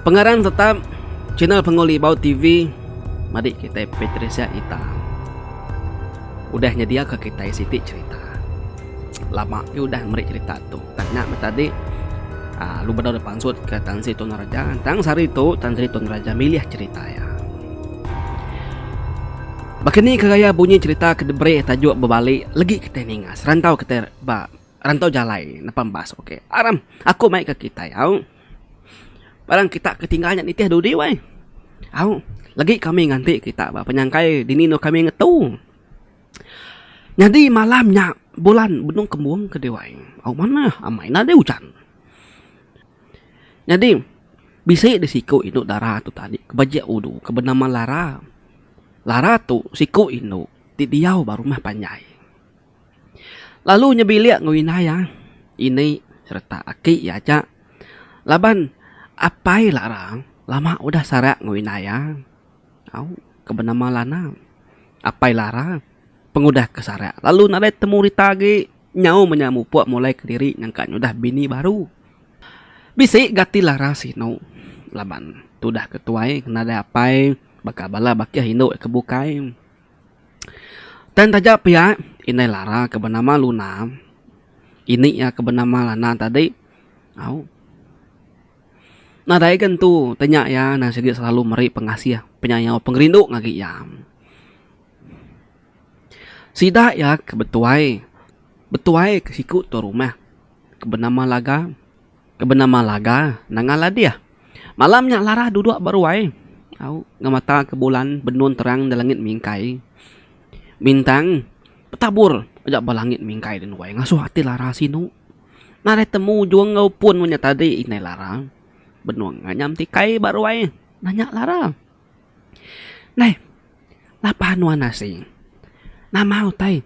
Pengarang tetap channel Penguli Bau TV madi kita Patricia Ita. Udah nyediaka kita siti cerita. Lama yu udah meri cerita tu. Tang nya meh tadi Alu Bedau dipansut ke Tan Sri Tun Raja. Tang sehari tu Tan Sri Tun Raja milih cerita iya. Baka ni ke gaya bunyi cerita ke diberi tajuk bebali legi kitai ninga serantau kitai ba rantau jalai nepan bas. Okey. Aram aku mai ke kitai au. Barang kita ke tinggal nya nitih dudi weh. Au legi kami nganti kita ba penyangkai dini endur kami ngetu. Nyadi malam nya bulan benung kembung ke Dewan. Au manah amai enda deh ujan. Nyadi bisi deh siku indu dara tu tadi ke bejek ulu ke benama Lara. Lara tu siku indu ti diau ba rumah panjai. Lalu inya bilik enggau indai iya, ini sereta aki iya aja. Laban apai Lara lama udah sara enggau indai iya. Au, ke benama Lana. Apai Lara, pengudah ke sarak lalu nadai temu rita agi nyau menya mupuk mulai kediri nyangka nyudah bini baru. Bisi ga ati Lara sinu laban tudah ke tuai ngena daya apai baka bala bakih indu iya ke bukai. Tang taja pia, indai Lara ke benama Luna, ini iya ke benama Lana tadi. Au. Nadai gentu tanya iya nan sigi selalu meri pengasih, penyayau, pengerindu ngagai iya. Sida iya ke betuai, betuai ke siku tuan rumah ke benama Laga, ke benama Laga nanga ladih. Malam nya Laras duduk ba ruai au ngau mata ke bulan benun terang da langit mingkai. Bintang betabur aja ba langit mingkai den ruai ngasuh ati Laras sinu. Nadai temu ujung enggau pun inya tadi indai larang. Benung nganyam ti kai ba ruai nah nya larang. Neh napa nuan asing nama utai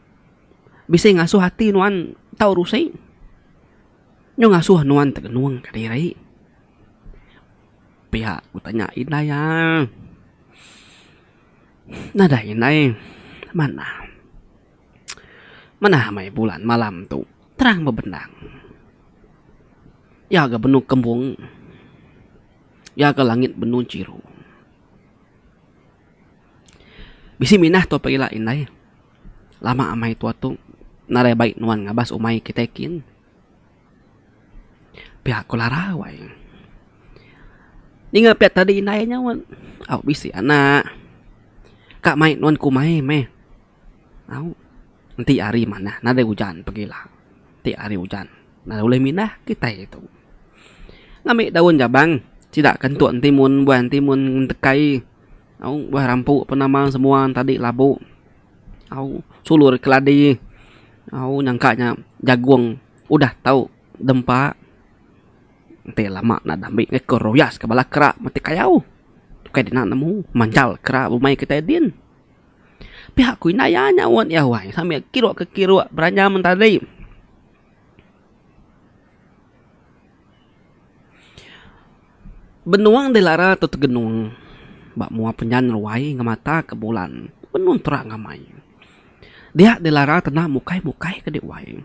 bisi ngasuh ati nuan tau rusi nyu ngasuh nuan tengenung kediri. Pia ku tanya indai iya. Nadai indai manah. Manah meh bulan malam tu terang bebendang. Iya ga benung kembung. Iya ga langit benung chiru. Bisi minah tua pia ila indai. Lama amai tua tu nadai bai nuan ngabas umai kitai kin. Pia ko Lara wai. Ninga pia tadi indai nyau au bisi anak ka mai nuan kumai meh. Au. Enti hari manah nadai ujan pegila. Enti hari ujan nadai ulih mindah kitai tu. Ngambi daun jabang sida ke entuk entimun buah entimun entekai. Au buah rampu pun nama semua tadi labu. Au sulur keladi. Au nyangka nya jagung udah tau dempa enti lama enda deh ambi ko royas ke bala kera mati kayau. Kai dina nemu manjal kera bumai kitai din. Pia ku indai iya nyaut iya wai sambil kiruk ke kiruk beranya mentadi. Benung dilara tu tegenung ba mua penyan ruai ngemata ke bulan benung terang amai. Dia dilara tena mukai mukai ke di wai.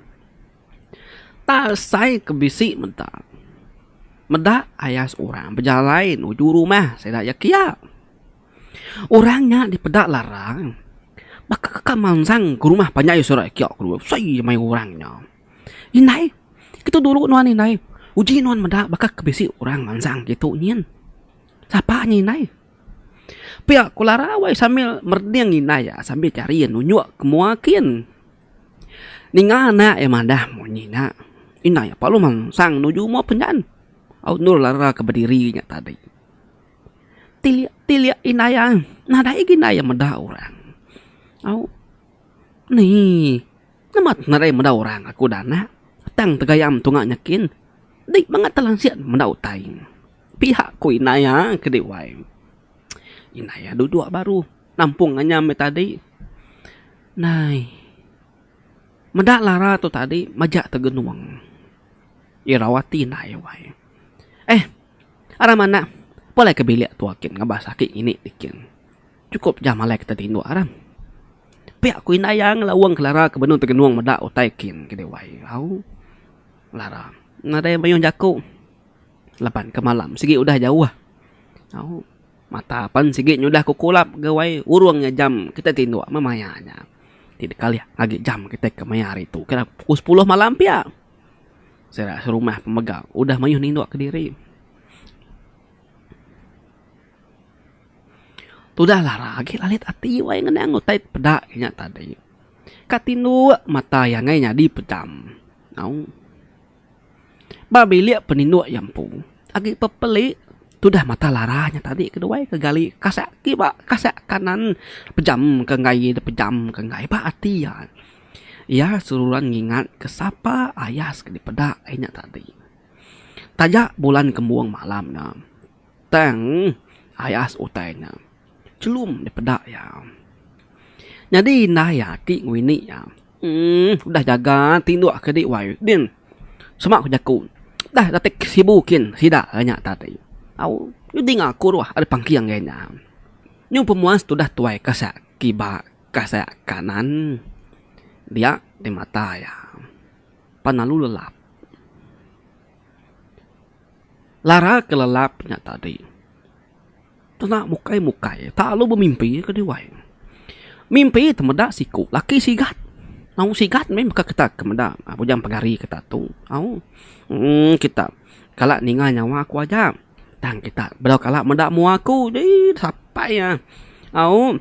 Ta sai ke bisi meda. Meda ayas orang bejalai nuju rumah sida iya kia. Orang nya dipeda larang, baka ka mansang ke rumah panjai sura yak ke dulu. Soi maya orang nya. Indai, kitu dulu nuan indai. Uji nuan meda baka ke bisi orang mansang kitu nyin. Sapa nya indai. Pia ku lara wai sambil merding indai yak sambil cari yak nunjuk ke mua kin. Ninga anak yak madah munyi nya. Indai lalu mansang nuju mua penyan. Au endur lara ke bediri nya tadi. Tilik tilik indai ai. Nadai agi indai iya meda orang. Au ni nama nadai meda orang aku dah anak. Tang tegayam tunga nyekin. Dei bangat telansik meda utai. Pihak ku indai iya ke dei wai. Indai iya duduk baru nampung nganyam iya tadi. Nai meda lara tu tadi majak tegenung. Irau ati indai iya wai. Eh. Aram manah, pulai ke bilik tua kin ngabas aki ngini ti kin. Chukup jam alai kita tinduk Aram. Pia ku indai iya ngelaung Clara ke benung tegenung meda utai kin ke dewai au. Clara nadai mayuh jaku laban ke malam sigi udah jauh au. Mata pan sigi nyudah ke kulap gawai urung nya jam kita tinduk meh maya nya. Ti dikalih agi jam kita ke maya hari tu kira pukul sepuluh malam pia. Sera serumah pemega udah mayuh nindup kediri. Tudah lara agi lalit ati wai ngenang utai peda inya tadi. Ka tinduk mata iya ngai nyadi pejam. Au. Ba bilik peninduk iya empu agi pepelik tudah mata lara inya tadi keduai ke gali kasah kiba kasah kanan pejamka enggai pejamka enggai ba ati iya. Iya seruran ngingatka sapa ayas ke dipeda iya nya tadi. Taja bulan kembung malam nya, tang ayas utai nya chelum dipeda iya. Nyadi indai ati ngini iya, uhh udah jaga tinduk ke di wai din. Sema ku jaku, udah datai ke sibu kin sida iya nya tadi. Au udah dinga ku ruh ari pangking iya nya. Nyun pemuas tudah tuai kasek kiba. Ka saya kanan, dia di mata iya. Pan lalu lelap. Lara ke lelap nya tadi, tuna mukai mukai ta lalu bemimpi ke diwai. Mimpi ti meda siku laki sigat. Au sigat meh baka kita ke meda bujang pengari kita tu. Au emm kita kala ninga nyawa aku aja. Tang kita bedau kala meda mua aku. Dii sapai iya. Au.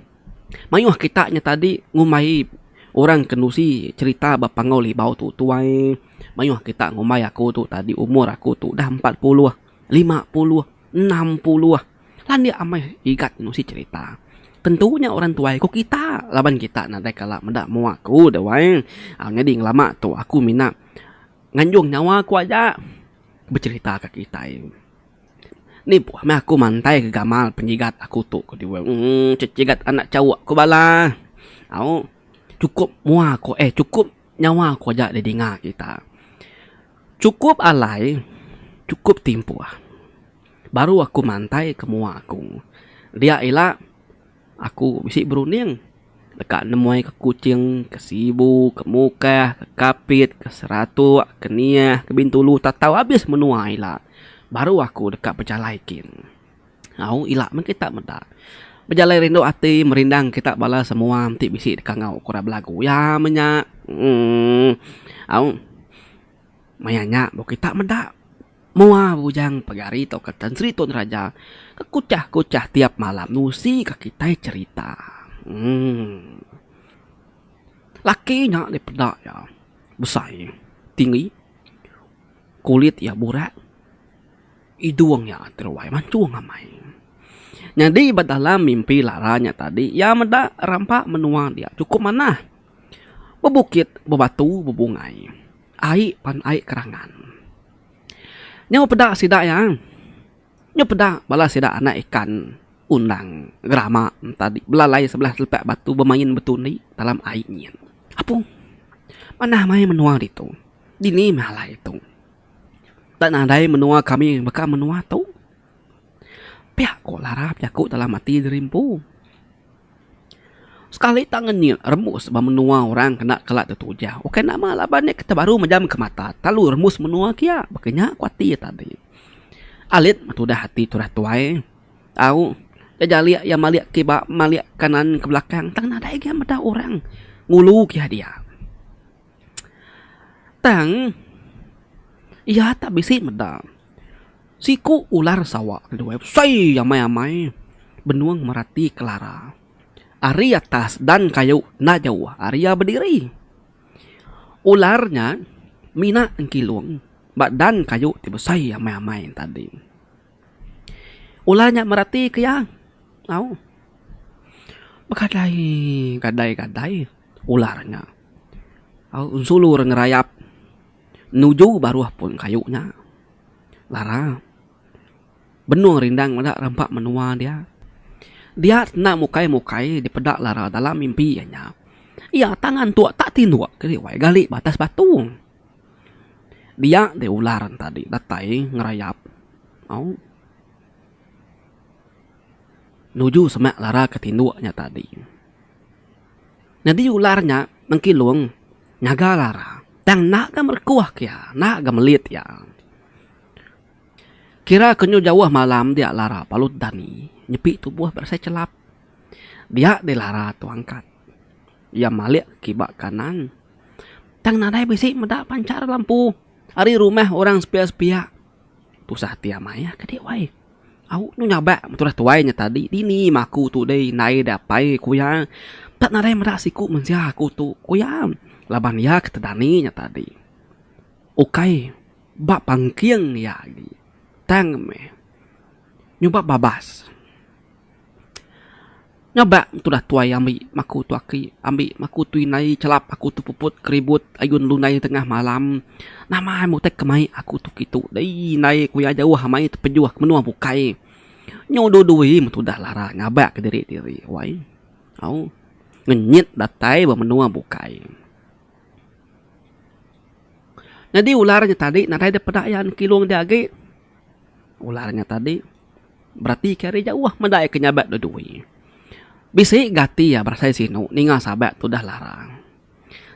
Mayuh kita nya tadi ngumbai orang ke nusi cherita ba Panggau Libau tu tuai. Mayuh kita ngumbai aku tu tadi umur aku tu dah empat puluh, lima puluh, enam puluh. Landik amai igat nusi cherita. Tentu nya orang tuai ku kita laban kita nadai kala meda mua aku tuai. Nyadi ngelama tu aku mina nganjung nyawa aku aja becherita ka kitai. Ni puh meh aku mantai ke gamal penyigat aku tu ke diweh uhh cecigat anak chauk ku bala au chukup mua ku eh chukup nyawa ku aja didinga kita. Chukup alai chukup timpuh baru aku mantai ke mua ku dia ila. Aku bisi berunding deka nemuai ke Kuching, ke Sibu, ke Mukah, ke Kapit, ke Seratuk, ke Niah, ke Bintulu tatau abis menua ila baru aku deka bejalai kin. Au ila meh kita meda. Bejalai rindu ati merindang kita bala semua enti bisi deka ngau ku orang belagu iya meh nya. Emm au maya nya baru kita meda. Mua bujang pegari tauka Tan Sri Tun Raja ke kuchah-kuchah tiap malam nusika kitai cherita. Laki nya dipeda iya besai, tinggi, kulit iya burak, idung iya teruai manchung amai. Nyadi ba dalam mimpi Lara nya tadi iya meda rampa menua dia chukup manah. Bebukit bebatu bebungai ai pan ai kerangan. Nyau peda sida iya nyau peda bala sida anak ikan undang gerama tadi belalai sebelah telepak batu bemain betundi dalam ai nyin. Apung manah mai menua ditu dini meh alai tu tak nadai menua kami baka menua tu. Pia ko larap jaku dalam ati diri empu. Sekali tang ngenyit rembus ba menua orang kena kala tu tujau. Ukai nama laban nya kita baru mejam ke mata telalu rembus menua kia. Baka nya ku ati iya tadi. Alit tudah ati tudah tuai tau iya jalik iya malik kiba malik kanan ke belakang tang nadai lagi iya meda orang ngulu ke iya dia. Tang iya tak bisi meda siku ular Sawa ke duai besai amai-amai benung merati kelara ari atas dan kayu enda jauh ari iya bediri. Ular nya mina engkilung ba dan kayu ti besai amai-amai tadi. Ular nya merati ke iya tau. Begadai gadai ular nya. Au ensulu re ngerayap nuju baruh pun kayu nya. Lara. Benung rindang meda rampa menua dia. Dia senda mukai-mukai dipeda Lara dalam mimpi iya nya. Iya tangan tu tak tinduk keri wai gali ba atas batu. Dia deh ular en tadi datai ngerayap. Au. Nuju semak Lara ke tinduk nya tadi. Nyadi ular nya mengkilung ngaga lara tang enda ga merekuh ke iya, enda ga melit iya. Kira ke nyu jauh malam dia lara balut dani nyepi tubuh berasai chelap. Dia deh lara tu angkat. Iya malik kiba kanan tang nadai bisi meda panchar lampu ari rumah orang sepia-sepia. Tusah ati amai iya ke dih wai. Au tu nyabak betulah tuai nya tadi dini mah aku tu deh indai deh apai ku iya. Enda nadai meda siku mensia aku tu ku iya laban iya ke tedani nya tadi. Ukai ba pengking iya agi tang meh nyuba babas. Ngabak tudah tuai ambi maku tu aki ambi maku tu indai chelap aku tu puput keribut ayun lunai tengah malam nama ai mutih ke mai aku tu kitu dei indai ku iya jauh amai tepejuh ke menua bukai nyu du dui meh tudah lara ngabak ke diri diri wai au ngenyit datai ba menua bukai nyadi ular nya tadi nadai deh peda iya kilung dia agi. Ular nya tadi beratika ari jauh meda iya ke nyabat dua dua. Bisi gati iya berasai sinu ninga sabat tu udah larang.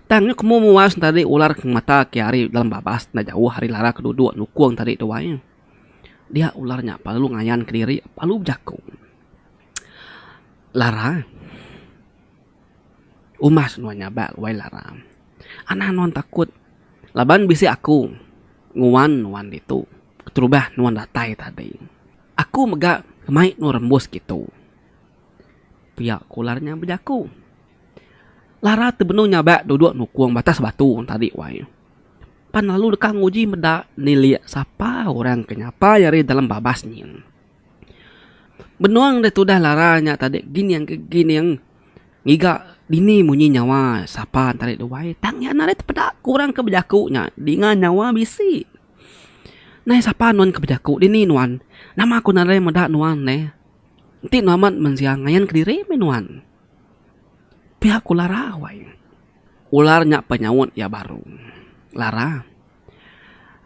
Tang nya kemu muas ne tadi ular ke ngemata ke ari dalam babas enda jauh ari lara ke duduk nukung tadi tu ai. Dia ular nya perlu ngayanka diri perlu bejaku. Lara. Umas nuan nyabak wai laram. Anang nuan takut laban bisi aku nguan nuan ditu keterubah nuan datai tadi. Aku mega mai nuan rembus kitu. Pia ku ular nya bejaku. Lara ti benung nyabak duduk nukung batas batu tadi wai. Pan lalu deka nguji meda nilik sapa orang ke nyapai ari dalam babas nyin. Benung da tudah lara nya tadi gining ke gining ngiga dini munyi nyawa sapa enti ari duai tang iya narai tepeda ku orang ke bejaku nya dinga nyawa bisi. Nai sapa nuan ke bejaku dini nuan nama ku narai meda nuan neh enti nuan amat mensia ngayan kediri meh nuan. Pia ku lara wai ular nya penyaut iya baru lara.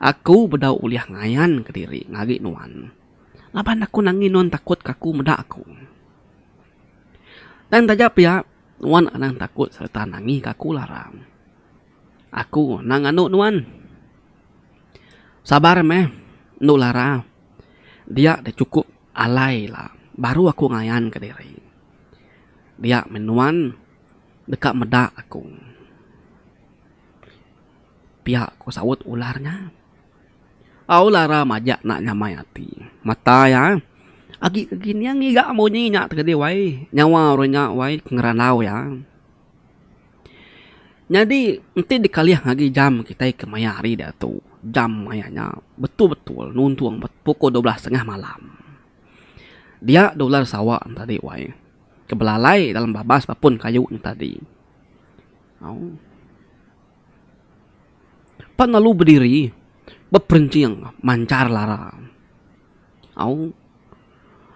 Aku bedau ulih ngayan ke diri ngari nuan laban aku nangi nuan takut ke aku meda aku. Tang taja pia nuan anang takut sereta nangi ke aku larang. Aku anang anu nuan. Sabar meh enu lara dia dah cukup alai ila baru aku ngayan ke diri. Dia meh nuan deka meda aku. Pia ko saut ular nya. Au lara majak enda nyamai ati. Mata iya agi ke gin iya ngiga munyi nya tadi wai. Nyawa orang nya wai ke ngerandau iya. Nyadi enti dikalih agi jam kitai ke maya hari diatu jam maya nya betul betul nuntung pukul dua belas tengah malam. Dia da ular sawa nya tadi wai ke belalai dalam babas ba pun kayu nya tadi. Au. Pan lalu bediri, beperencing manchar lara. Au,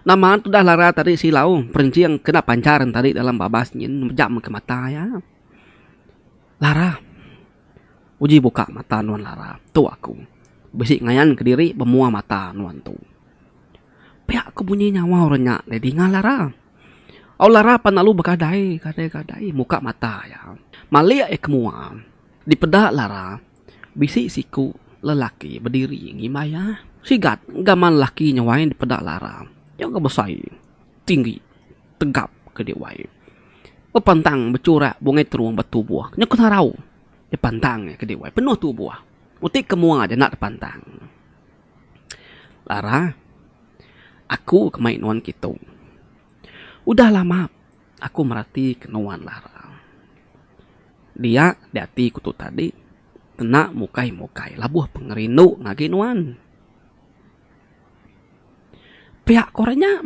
nama tudah lara tadi silau perencing kena panchar tadi dalam babas nyin mejam ke mata iya. Lara, uji buka mata nuan lara, tu aku. Bisi ngayanka diri bemuah mata nuan tu. Pia ko bunyi nyawa orang nya deh dinga Lara. Au Lara pan lalu begadai gadai gadai muka mata iya. Malik iya ke mua. Dipeda Lara bisi siku lelaki bediri ngimbai iya. Sigat gaman lelaki nya wai dipeda Lara. Iya ke besai tinggi tegap ke dia wai. Bepantang becurak bungai terung ba tubuh nya ke narau dipantang iya ke dia wai penuh tubuh. Enti ke mua aja enda dipantang. Lara, aku ke mai nuan kitu. Udah lama aku merati ke nuan Lara. Dia di ati ku tu tadi kena mukai mukai labuh pengerindu ngagai nuan. Pia ku ra nya.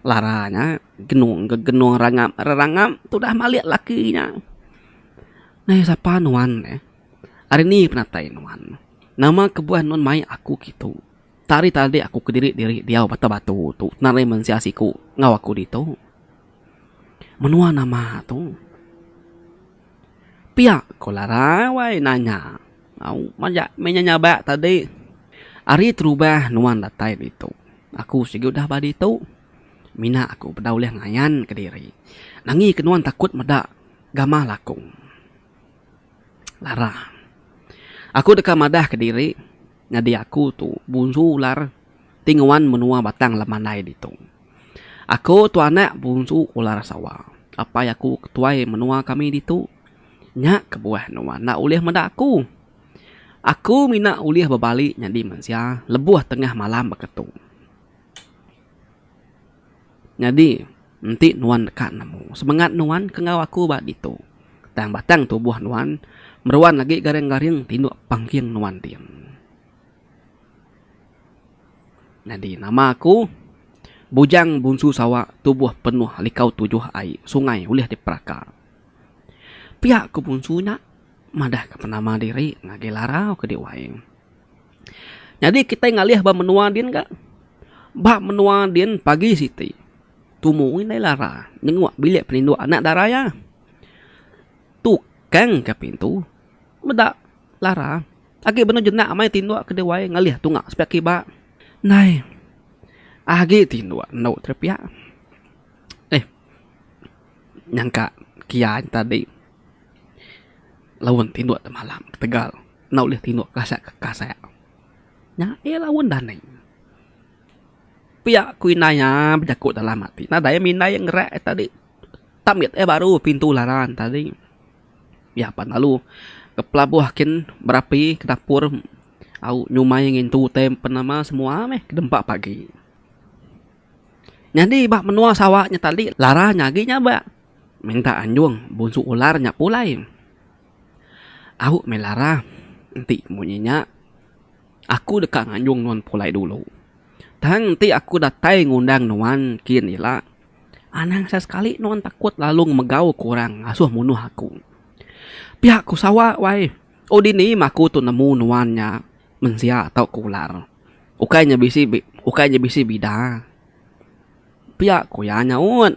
Lara nya genung ke genung rangap rerangap tudah malik laki nya. Ngaya sapa nuan eh. Ari ni penatai nuan? Nama kebuah nuan mai aku kitu? Tak ari tadi aku kediri-diri diau bata batu tu kena ari mensia siku enggau aku ditu. Menua nama tu? Pia ko Larai wai nanya. Au, maja meh nya nyabak tadi. Ari terubah nuan datai ditu. Aku sigi udah ba ditu. Mina aku peda ulih ngayan kediri. Nangi ke nuan takut meda gamah lakung. Lara. Aku deka madah ke diri nyadi aku tu bunsu ular ti nguan menua batang lem mandai ditu. Aku tu anak bunsu ular sawa. Apai aku ketuai menua kami ditu. Nya kebuah nuan enda ulih meda aku. Aku mina ulih bebali nyadi mensia lebuh tengah malam baka tu. Nyadi, enti nuan deka nemu semengat nuan ke enggau aku ba ditu, tang batang tubuh nuan meruan agi garing-garing tinduk pangking nuan ti. Nyadi, nama aku, Bujang Bunsu Sawa tubuh penuh likau tujuh ai sungai ulih diperaka. Pia ku Bunsu nya madahka penama diri ngagai larau ke di wai. Nyadi kitai ngalih ba menua din ga. Ba menua din pagi siti tumu indai lara nyenguk bilik peninduk anak dara iya. Tukang ka pintu meda lara agi benung jenak amai tinduk ke diwai ngalih tunga sepiak kiba. Nai agi tinduk endo tau piak eh nyangka kian tadi laun tinduk temalam ketegal. Enda ulih tinduk kasat ke kasat. Nya iya laun danik. Pia ku indai iya bejaku dalam ati. Nadai mindai ngerak iya tadi. Tam mit iya baru pintu laran tadi. Iya pan lalu ke pelabuh kin berapi ke dapur au nyumai ngintu utai pen nama semua meh ke dempa pagi. Nyadi ba menua Sarawak nya tadi laran agi nya ba minta anjung bunsu ular nya pulai. Au meh Lara, enti munyi nya aku deka nganjung nuan pulai dulu. Tang enti aku datai ngundang nuan kin ila, anang sesekali nuan takut lalu ngemegauka orang ngasuh munuh aku. Pia ku sawa wai, oh dini mah aku tu nemu nuan nya mensia tau ke ular. Ukai nya bisi ukai nya bisi bida. Pia ku iya nyaut.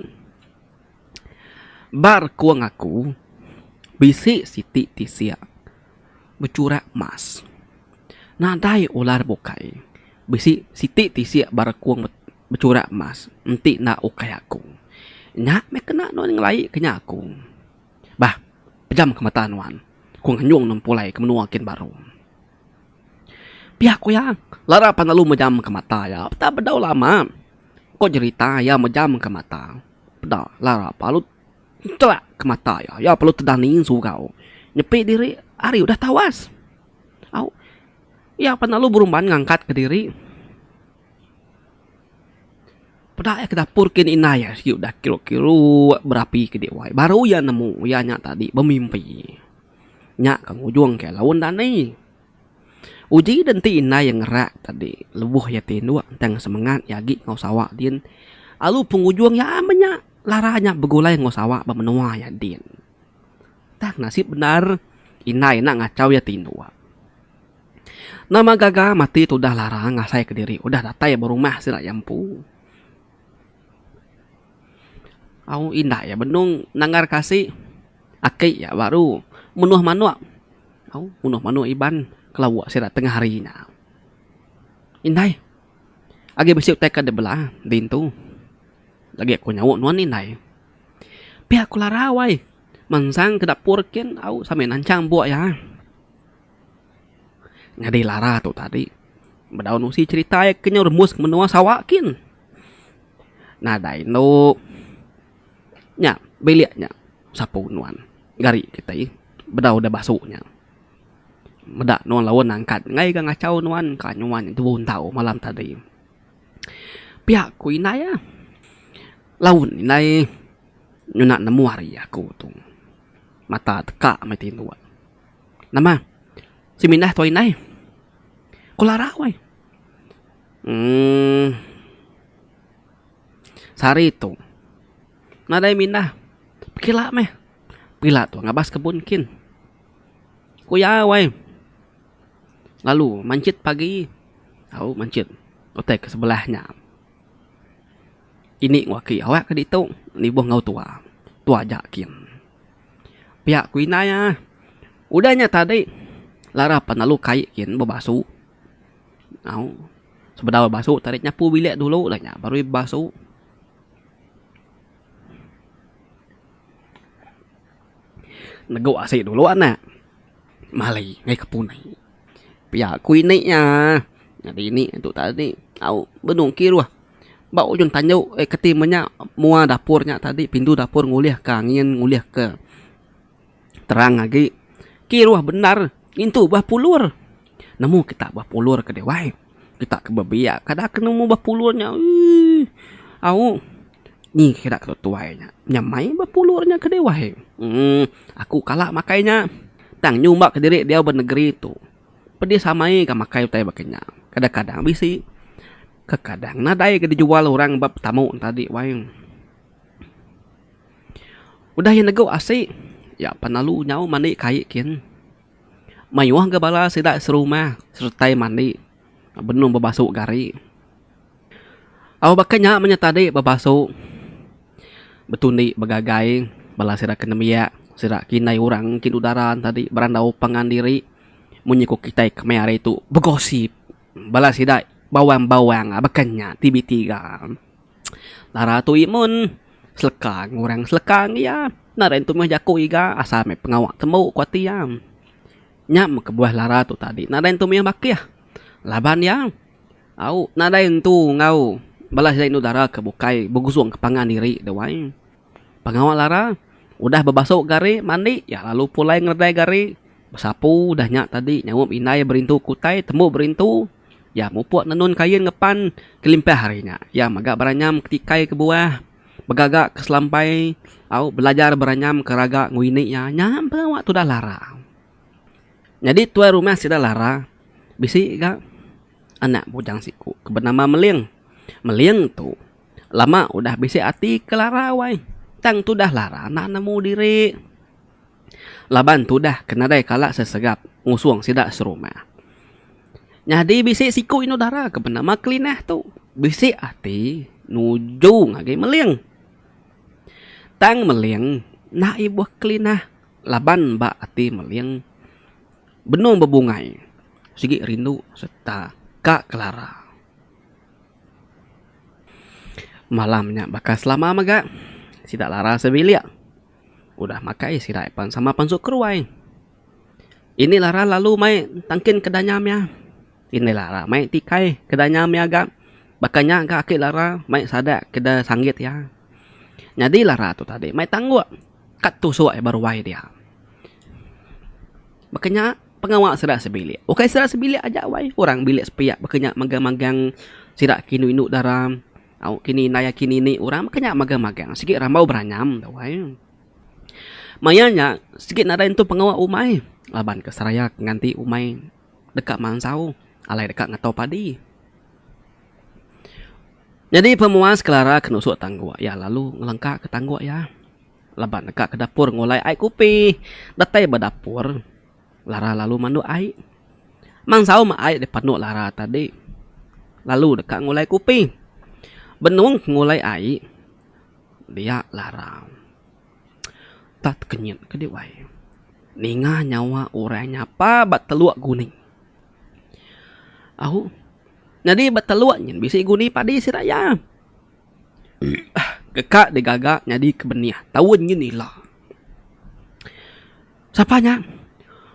Ba rekung aku, bisi siti tisia bechurak emas. Nadai ular bukai bisi siti tisia ba rekung bechurak emas enti enda ukai aku. Nya meh kena nuan ngelai ke nya aku. Bah, pejamka mata nuan. Aku nganjung nuan pulai ke menua kin baru. Pia ku iya, lara pan lalu mejamka mata iya. Udah bedau lama ko jerita iya mejamka mata. Peda lara Palut nterak ke mata iya. Iya perlu tedaning surau. Nyepi diri ari udah tawas. Au. Iya pan lalu berumban ngangkatka diri. Peda iya ke dapur kin indai iya sigi udah kiruk-kiruk berapi ke dewai. Baru iya nemu iya nya tadi bemimpi. Nya ke ngujungka laun dani. Uji da enti indai iya ngerak tadi lebuh iya ti indu tang semengat iya agi enggau sawa din lalu pengujung iya meh nya lara nya begulai enggau sawa ba menua iya din. Tang nasib bendar indai enda ngachau iya ti indu. Nama gaga matik tu udah lara ngasai ka diri udah datai ba rumah sida iya empu. Au indai iya benung nanggar kasih. Aki yak baru menuh manuk au menuh manuk iban ke lauk sida tengah hari nya. Indai agi bisi utai ke dibela dintu lagi ku nyauk nuan indai. Pia ku larau ai mensang ke dapur kin au sambil nanchang buk iya. Nyadi lara tu tadi bedaun usi cherita iya ke nyau remus ke menua Sarawak kin. Nadai inu. Nya, bilik nya besapu nuan. Gari kitai bedau udah basu nya. Meda nuan laun nangkat ngai ga ngachau nuan ka nyuan nya tubu entau malam tadi. Pia ku indai ah. Laun indai ngena nemu ari aku tu. Mata teka meh ti nuan. Nama semindah tuan indai. Ku larak weh. Uhh. Sehari tu nadai mindah pekila meh pekila tu ngabas kebun kin ku iya wai lalu manchit pagi au manchit utai ke sebelah nya ini ku aki awak ke ditu nibuh enggau tuwa tuwa ja kin pia ku indai ah udah nya tadi lara pelalu kai kin bebasu. Au. Sebedau iya basu tadi nyapu bilik dulu lah nya baru iya basu. Negu asi dulu anak mali ngaih ke punai. Pia ku ini nya nyadi ini tu tadi au benung kiruh ba ujung tandu eh keti menya mua dapur nya tadi pintu dapur ngulih ka angin ngulih ka. Terang agi, kiruh bendar ngintu bah pulur. Nemu kita bah pulur ke deh wai. Kita ke bebiak kada ke nemu bah pulur nya eii. Au nyi sida ke tuai nya nyamai bah pulur nya ke deh wai. Emm aku kala makai nya tang nyumba ke diri diau ba negeri tu pedis amai ga makai utai baka nya. Kadang kadang bisi, kekadang nadai ga dijual orang ba petamu enta agi wai. Udah iya negu asi, iya pan lalu nyau mandi kai kin. Mayuh ga bala sida serumah seretai mandi benung bebasu gari. Au baka nya mah nya tadi bebasu betundi begagai bala sida ke nembiak sida ke indai orang ke duduk dara ne tadi berandau pangan diri mung iku kitai kemaya hari tu begosip bala sida bawang-bawang baka nya ti bitiga. Lara tu imun seleka ngan orang seleka ngan iya. Enda ari nentu mih jaku iga asal meh pengawa tembu ku ati iya. Nya meh kebuah lara tu tadi nadai nentu mih bakih laban iya au nadai nentu enggau bala sida indu dara ke bukai begusung ke pangan diri deh wai. Pengawa lara udah bebasu gari mandi iya lalu pulai ngeledai gari besapu udah nya tadi nyaup indai berintu ke utai tembu berintu. Iya mupuk tenun kain ngepan kelimpah ari nya. Iya mega beranyam ketikai ke buah, begaga ke selampai au belajar beranyam ke raga enggau ini iya. Nya pengawa tudah Lara. Nyadi tuai rumah sida Lara bisi ga anak bujang siku ke benama Meling. Meling tu lama udah bisi ati ke Lara wai tang tudah Lara enda nemu diri. Laban tudah ke nadai kala sesegap ngusung sida serumah. Nyadi bisi siku indu dara ke benama Kelinah tu bisi ati nuju ngagai Meling. Tang Meling enda ibuh Kelinah laban ba ati Meling benung bebungai sigi rindu sereta ka kelara. Malam nya baka selama mega sida lara sebilik. Udah makai sida pan sama pansut ke ruai. Ini lah ra lalu mai tangkin ke danya mia. Ini lah ra mai tikai ke danya mia ga. Baka nya ga ake lah ra mai sada ke da sanggit iya. Nyadi lah ra tu tadi mai tangguk ka tusuk ai ba ruai dia. Baka nya pengawa sida sebilik. Ukai sida sebilik aja wai orang bilik sepiak baka nya magang-magang sida ke indu-indu dara. Au kini indai aki nini orang maka nya magang-magang sigi rambau beranyam tu ai. Maya nya sigi nadai entu pengawa umai laban ke seraya ke nganti umai deka mansau alai deka ngetau padi. Nyadi pemuas kelara ke nusu tangguk iya lalu ngelengkaka tangguk iya laban deka ke dapur ngulai ai kupi datai ba dapur. Lara lalu manduk ai. Mang Saum ai dipanduk Lara tadi lalu deka ngulai kupi. Benung ke ngulai ai dia Lara. Tah tekenyit ke dih wai. Ninga nyawa orang nyapa ba teluk guning. Au nyadi ba teluk nyin bisi guni padi sida iya. Deka digaga nyadi ke benih taun nyin ila. Sapa nya?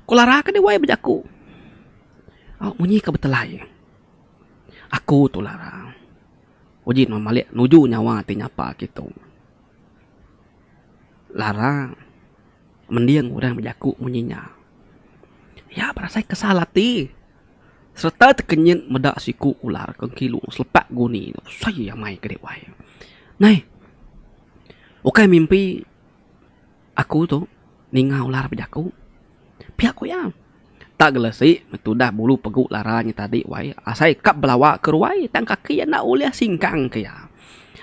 Ku Lara ke diwai bejaku. Au munyi ke betelai. Aku tu Lara. Uji nuan malik nuju nyawa ti nyapa aku tu. Lara mending orang bejaku munyi nya. Iya berasai kesal ati sereta tekenyit meda siku ular ke ngilu selepak guni tu besai amai ke diwai. Neh. Ukai mimpi Aku tu ninga ular bejaku. Pia ku iya. Tak gelesi betudah bulu pegu lara nya tadi wai asai kap belawa ke ruai tang kaki iya enda ulih singkang ke iya.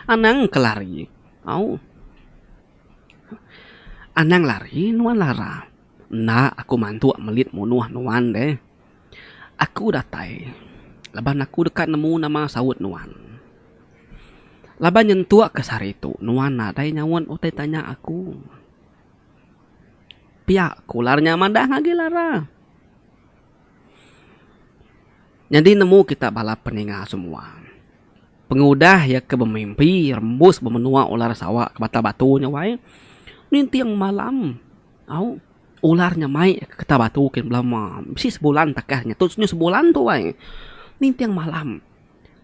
Anang ke lari. Au. Anang lari nuan lara. Enda aku mantuk melit munuh nuan deh. Aku datai laban aku deka nemu nama saut nuan. Laban nyentuk ke sehari tu nuan nadai nyaut utai tanya aku. Pia ku ular nya madah agi lara. Nyadi nemu kita bala peninga semua. Pengudah iya ke bemimpi rembus bemenua ular sawa ke Batang Batu nya wai ninting malam. Au ular nya mai ka getah batu kin bala uma. Bisi sebulan takah nya. Tu nya sebulan tu ai. Ninting malam.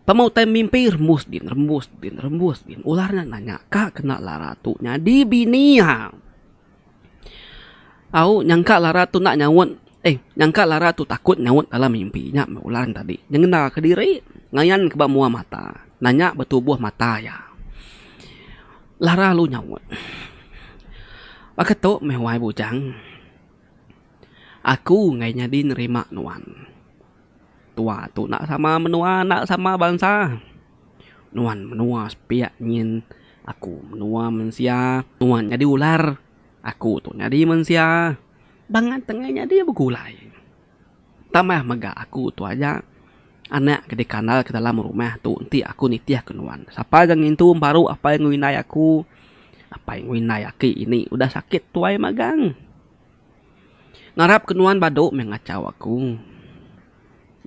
Tama utai mimpi rembus din, rembus din, rembus din. Ular nya nanya, ka kena lara tu nyadi bini ha. Au nyangka lara tu enda nyaut, eh nyangka lara tu takut nyaut dalam mimpi nya meh ular tadi. Nyengena kediri, ngayanka ba mua mata. Nanya ba tubuh mata iya. Lara lu nyaut. Baka tu meh wai bujang. Aku enggai nyadi nerima nuan. Tua tu enda sama menua enda sama bansa. Nuan menua sepiak nyin aku menua mensia. Nuan nyadi ular aku tu nyadi mensia. Bangat enggai nyadi begulai. Tambah mega aku tu aja anak ke dikandal ke dalam rumah tu enti aku nitih ke nuan. Sapa ke ngintu emparu apai enggau indai aku, apai enggau indai aki ini udah sakit tuai magang. Ngarap ke nuan badu meh ngachau aku.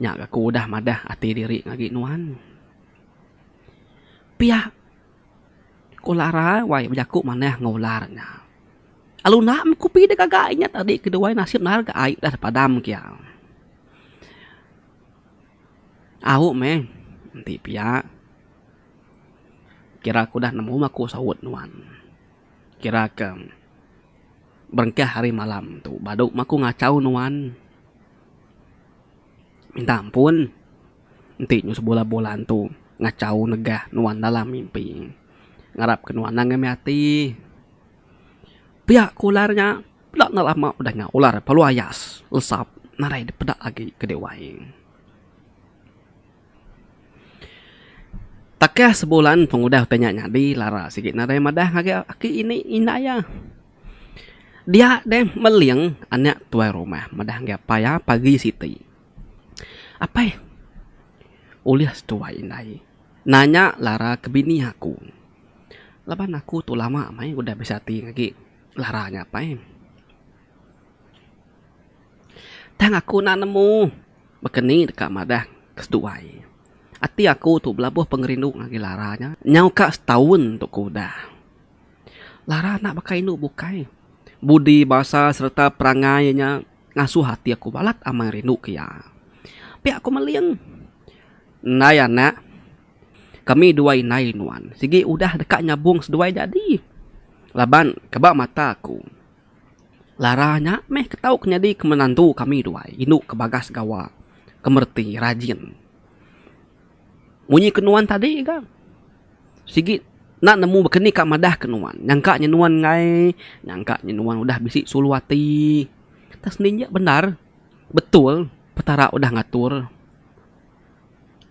Nya ga aku udah madah ati diri agi nuan. Pia. Ko Lara wai bejaku manah enggau ular nya. Alu enda mekupi dek gaga inya tadi ke duai nasip nar ga ai udah padam ke iya. Au meh enti pia kira aku udah nemu aku saut nuan. Kira ke berengkah hari malam tu badu meh aku ngachau nuan minta ampun. Enti nyu sebula bulan tu ngachau negah nuan dalam mimpi. Ngarap ke nuan anang ame ati. Pia ku ular nya peda enda lama beda nya ular palu ayas lesap nadai dipeda agi ke dek wai. Takah sebulan pengudah utai nya nyadi lara sigi nadai madah ngagai aki ini inda iya. Dia deh meling anak tuai rumah madah ngagai apai iya pagi siti. Apai. Ulih setuai indai nanya lara ke bini aku. Laban aku tu lama meh udah bisi ati agi lara nya apai. Tang aku enda nemu baka ni deka madah ke setuai. Ati aku tu belabuh pengerindu ngagai lara nya nyau ka setaun tu ke udah. Lara enda baka indu bukai. Budi, basa sereta perangai nya Ngasuh ati aku balat amai rindu ke iya. Pia aku meling. Ndai anak. Kami dua indai nuan. Sigi udah deka nyabung seduai jadi. Laban ke ba mata aku. Lara nya meh ke tau ke nyadi ke menantu kami duai indu ke bagas gawa, ke mereti, rajin. Munyi ke nuan tadi ga. Sigi enda nemu baka ni ka madah ke nuan. Nyangka nya nuan enggai. Nyangka nya nuan udah bisi sulu ati. Tang semina nya bendar. Betul Petara udah ngatur.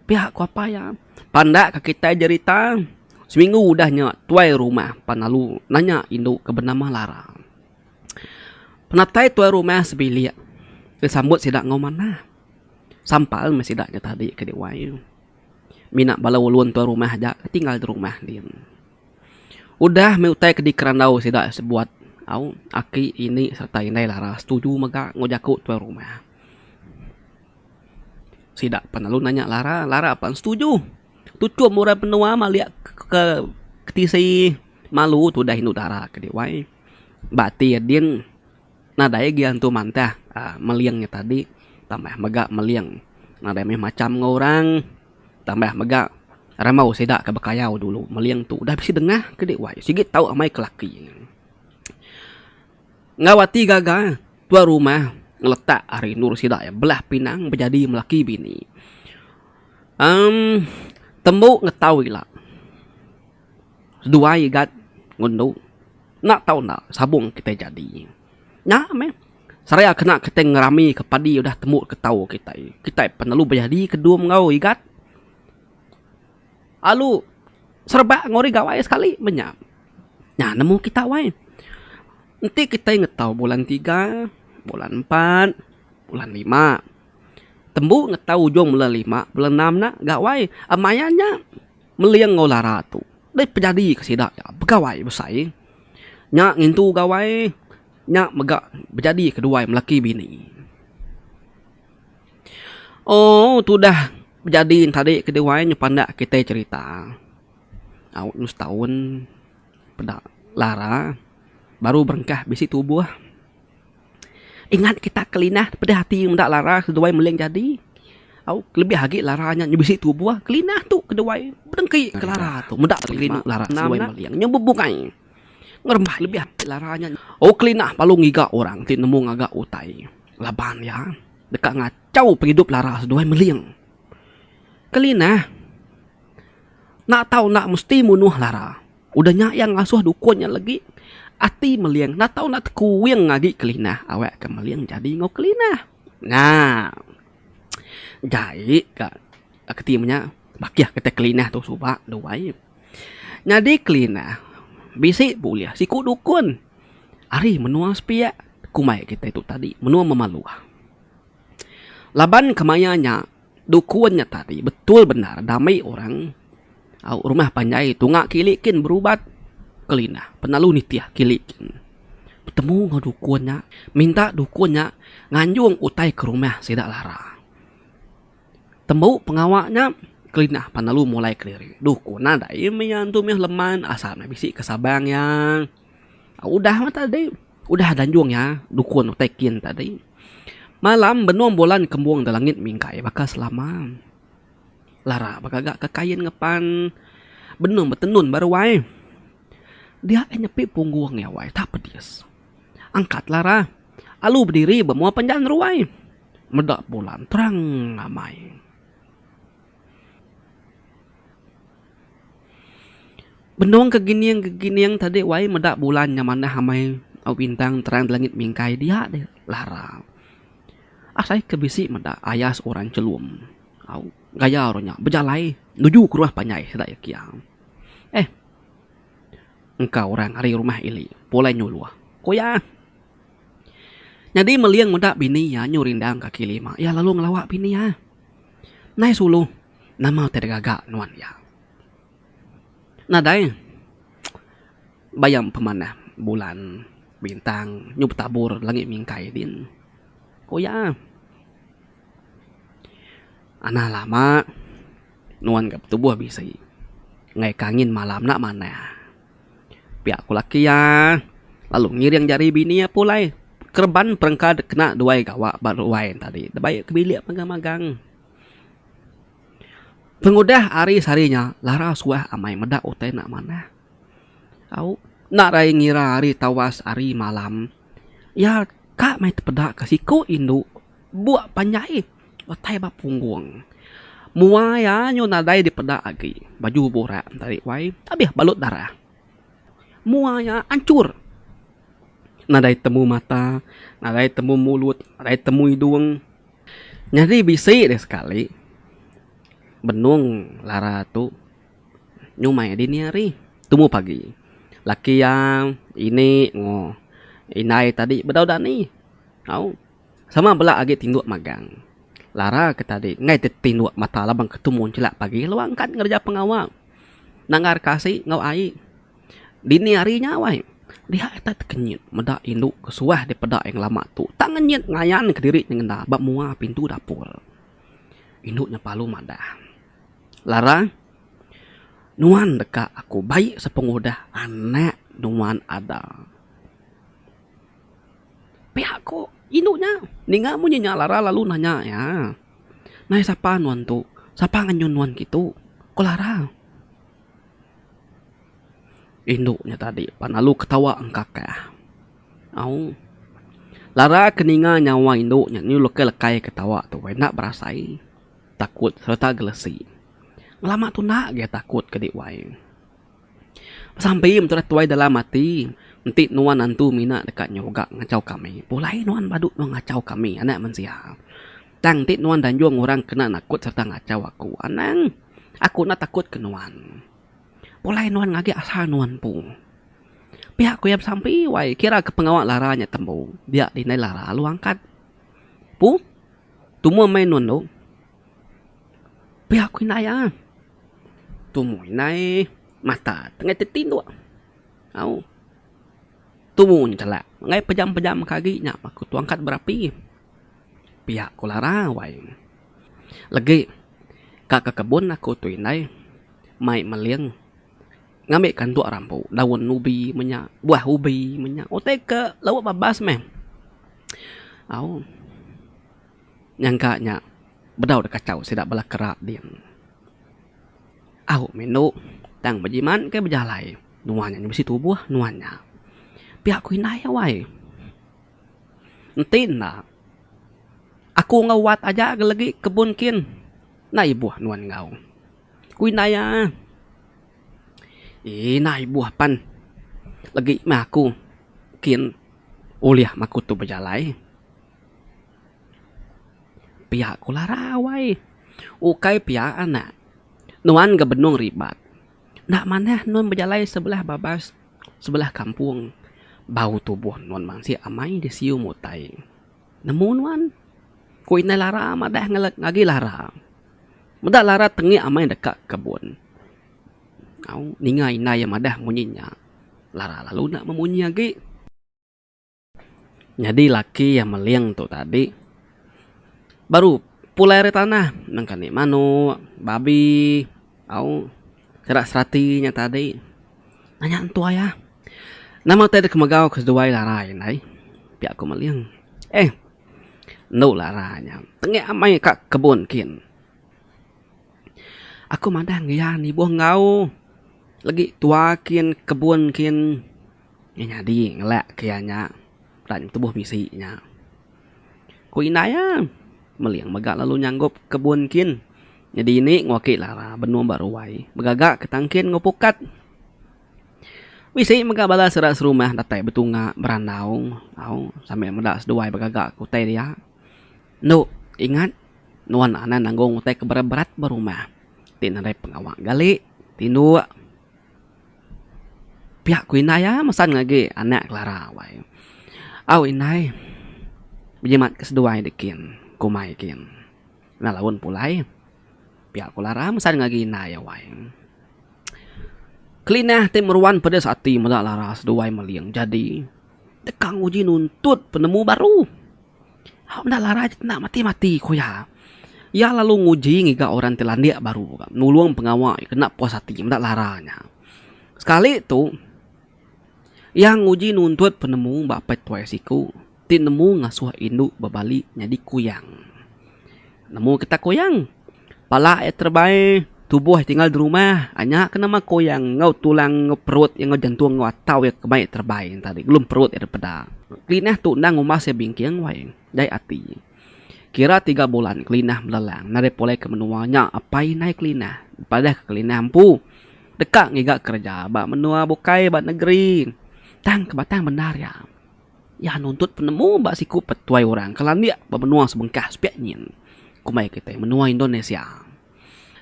Pia ku apai iya. Panda ka kitai jerita. Seminggu udah nya tuai rumah pan lalu nanya indu ke benama Lara. Penatai tuai rumah sebilik disambut sida enggau manah. Sampal meh sida nya tadi ke deh wai. Mina bala ulun tuan rumah aja ke tinggal di rumah din. Udah meh utai ke dikerandau sida sebuat au aki ini serta indai laras setuju mega enggau jaku tuan rumah. Sida pan lalu nanya lara, lara pan setuju. Tuchum orang menua malik ke tisi malu tu udah indu dara ke deh wai. Ba ati adin. Nadai agi antu mantah uhh meling nya tadi tambah mega meling nadai mih macham enggau orang tambah mega rambau sida ke bekayau dulu meling tu udah bisi dengah ke dek wai sigi tau amai ke laki. Enggau ati gaga tuan rumah ngeletak ari endur sida iya belah pinang bejadi melaki bini uhh tembu ngetau ila. duai gat ngundu enda tau enda sabung kitai jadi nya meh serai a kena kitai ngerami ka padi udah tembu ka tau kitai kitai pun lalu bejadi ke dum enggau igat alu serebak enggau ari gawai sekali meh nya nya nemu kita wai enti kitai ngetau bulan tiga bulan empat bulan lima tembu ngetau ujung bulan lima bulan enam nya gawai a maya nya. Meling enggau Lara tu deh penyadi ke sida nya begawai besai. Nya ngintu gawai nya mega bejadi ke duai melaki bini. Ooh tudah bejadi ne tadi ke duai nya pandak kitai cherita. Au nya setaun peda Lara baru berengkah bisi tubuh. Ingat kita kelinah peda ati meda lara seduai meling jadi au kelebih agi lara nya nyau bisi tubuh kelinah tu keduai dengki ke lara tu meda rinu lara seduai meling nyau bebukai ngerembai lebih agi lara nya oh kelinah lalu ngiga orang ti nemu ngaga utai laban iya deka ngachau pengidup lara seduai meling. Kelinah enda tau enda mesti munuh lara. Udah nya iya ngasuh dukun nya legi ati Meling enda tau enda tekuing agi Kelinah awak ke Meling jadi enggau Kelinah. Nya jai ka keti menya bakih ke tai Kelinah tu suba dua ai. Nyadi Kelinah bisi bulih siku dukun ari menua sepiak kumbai kitai tu tadi menua Memaluh. Laban kemaya nya. Dukun nya tadi betul bendar dami orang au rumah panjai tunga kili kin berubat kelinah penelu nitih kili kin betemu enggau dukun nya minta dukun nya nganjung utai ke rumah sida lara. Tembu pengawa nya kelinah penelu mulai kediri dukun nadai mih iya tu mih leman asal meh bisi ke Sabang iya. Udah meh tadi. Udah danjung iya dukun utai kin tadi. Malam benung bulan kembung da langit mingkai baka selama. Lara begaga ke kain ngepan benung betenun ba ruai. Dia ai nyepi punggung iya wai tak pedis. Angkat lara alu bediri ba mua panjaan ruai. Meda bulan terang ngamai. Benung ke gening ke gening tadi wai meda bulan nya manah amai au bintang terang da langit mingkai dia deh lara. Asai ke bisi meda ayas orang chelum au gaya orang nya bejalai nuju ke rumah panjai sida iya kia. Eh engka orang ari rumah ili pulai nyuluh ku iya. Nyadi meling meda bini iya nyu rindang kaki lima iya lalu ngelawa bini iya. Nai sulu nama ti degaga nuan iya. Nadai bayam pemanah bulan bintang nyu betabur langit mingkai din. Ku iya. Anang lama nuan ga betubuh bisi ngaika angin malam enda manah. Pia ku laki iya lalu ngiring jari bini iya pulai kereban perengka dek kena duai gawa ba ruai tadi dek baie ke bilik magang magang. Pengudah hari sehari nya Lara suah amai meda utai enda manah. Au enda raie ngira hari tawas hari malam iya ka mai tepeda ke siku indu buk panjai. Utai ba punggung. Mua iya nyu nadai dipeda agi. Baju burak entari wai abih balut darah. Mua iya anchur. Nadai temu mata, nadai temu mulut, nadai temu idung. Nyadi bisi deh sekali benung lara tu nyu mai dini hari tumu pagi. Laki iya, ini enggau indai tadi bedau dani. Au. Sama bela agi tinduk magang. Lara ke tadi enggai ti tinduk mata laban ke tumu nchelak pagi lalu angkat ngereja pengawa nanggar ke asi enggau ai dini hari nya wai. Dia ita tekenyit meda indu ke suah dipeda iya ngelama tu tak ngenyit ngayan ke diri nyengenda ba mua pintu dapur. Indu nya palu madah, Lara, nuan deka aku baik sepengudah anak nuan ada. Pia ko indu nya ninga munyi nya Lara lalu nanya iya. Nai sapa nuan tu? Sapa ngenyun nuan kitu? ko Lara. Indu nya tadi pan lalu ketawa engkakah. Au Lara ke ninga nyawa indu nya nyu lekai lekai ketawa tu enda berasai takut sereta gelesi. Lama tunda gaya takut ke di wai. Besampi meh tudah tuai dalam ati enti nuan antu mina deka nyuga ngachau kami pulai nuan badu nuan ngachau kami anak mensia. Tang enti nuan danjung orang kena nakut sereta ngachau aku anang aku enda takut ke nuan. Pulai nuan ngagi asa nuan empu. Pia ku iya besampi wai kira ke pengawa lara nya tembu dia dindai lara lalu angkat. Pu tumu meh nuan tu. Pia aku indai iya. Tumu indai mata tengah tetinduk. Au. Tumu njelak enggai pejam-pejam ke agi nya aku tu angkat berapi. Pia ku Lara wai. Legi ka ke kebun aku tu indai mai meling ngambi kanduk rambu daun ubi meh nya buah ubi meh nya. Utai ke lauk babas meh. Au. Nyangka nya bedau dek kachau sida bala kera ding. Au meh enu tang bejiman ke bejalai nuan nya bisi tubuh nuan nya pia aku indai awai. Enti enda aku enggau wat aja legi kebun kin enda ibuh nuan enggau ku indai iya. Ina ibuh pan legi meh aku kin ulih meh aku tu bejalai. Pia ku larau ai. Ukai pia anak. Nuan ga benung ribat. Enda manah nuan bejalai sebelah babas sebelah kampung. Bau tubuh nuan mansik amai disiu mutai. Nemu nuan? Ku indai Lara madah ngagi Lara. Meda Lara tengik amai deka kebun. Au ninga indai iya madah munyi nya. Lara lalu enda memunyi agi. Nyadi laki iya meling tu tadi baru pulai ari tanah nengka ni manok, babi au kera serati nya tadi. Nanya entu ai ah nama utai deka megau ke seduai larai ndai pia ku meling. Eh endo larai nya tengik amai ka kebun kin. Aku madah ngereja ni ibuh enggau legi tua kin kebun kin. Iya nyadi ngelak ke iya nya enda ngetubuh bisi nya. Ku indai iya, Meling mega lalu nyanggup kebun kin. Nyadi indi ngwaki lara benung ba ruai begaga ke tangkin enggau pukat. Bisi mega bala sera serumah datai betunga berandau au sambil meda seduai begaga ke utai dia. Endo ingat nuan anang nanggung utai ke berat-berat ba rumah ti nadai pengawa gali tinduk. Piak ku indai iya mesan agi anak Clara wai. Au indai bejimat ke seduai dik kin ku mai kin. Enda laun pulai. Piak ku Clara mesan agi indai iya wai. Kelinah ti meruan pedis ati meda Clara seduai meling jadi deka nguji nuntut penemu baru. Hak meda larai ti kena mati-mati ku iya. Iya lalu nguji ngiga orang ti landik baru kah nulung pengawa iya kena puas ati meda larai nya. Sekali tu iya nguji nuntut penemu ba petuai siku ti nemu ngasuh indu bebali nyadi kuyang. Nemu ketak koyang. Pala iya terebai, tubuh iya tinggal di rumah. Anya ke nama koyang enggau tulang enggau perut iya enggau jantung enggau atau iya ke mai terebai nya tadi belum perut iya dipeda. Kelinah tu endang umbas iya bingking wai jai ati. Kira tiga bulan Kelinah belelang nadai pulai ke menua nya apai indai Kelinah dipadahka Kelinah empu deka ngiga kereja ba menua bukai ba negeri tang ke batang bendar iya. Iya nuntut penemu ba siku petuai orang ke landik ba menua sebengkah sepiak nyin, kombai kitai menua Indonesia.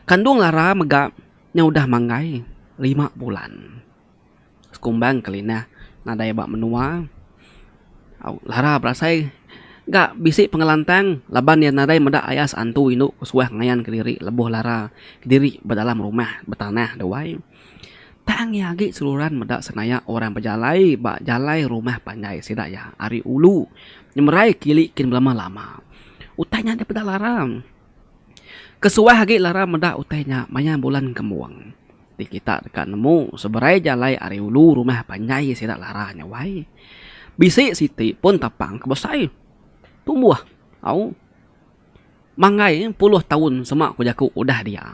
Kandung Lara mega nya udah manggai lima bulan. Sekumbang kelinah nadai ba menua, Lara berasai ga bisi pengelantang laban iya nadai meda ayas antu indu kesuah ngayan kediri lebuh Lara kediri ba dalam rumah betanah duai. Tang iya agi seruran meda senayak orang bejalai ba jalai rumah panjai sida iya ari ulu nyemerai kili kin belama lama. Utai nya deh peda larang. Ke suah agi larang meda utai nya maya bulan kembung ti kita deka nemu seberai jalai ari ulu rumah panjai sida lara nya wai. Bisi siti pun tapang ke besai tumbuh au. Manggai puluh taun sema ku jaku udah dia.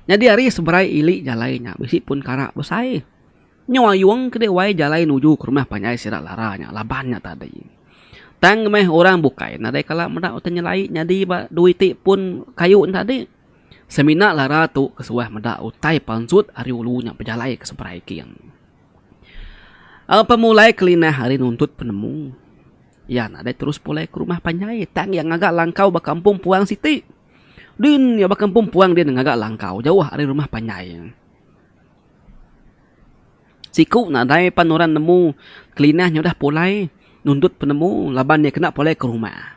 Nyadi ari seberai ili jalai nya bisi pun kara besai. Nyau ayung ke dewai jalai nuju ke rumah panjai sida lara nya laban nya tadi. Tang meh orang bukai nadai kala meda utai nyelai nyadi ba dua iti pun kayu nya tadi. Semina lara tu ke suah meda utai pansut ari ulu nya bejalai ke seberai king. Pemulai kelinah ari nuntut penemu. Iya nadai terus pulai ke rumah panjai tang iya ngaga langkau ba kampung puang siti. Din iya ba kampung puang din ngaga langkau jauh ari rumah panjai. Siku nadai pan orang nemu Kelinah nya udah pulai nundut penemu laban iya kena pulai ke rumah.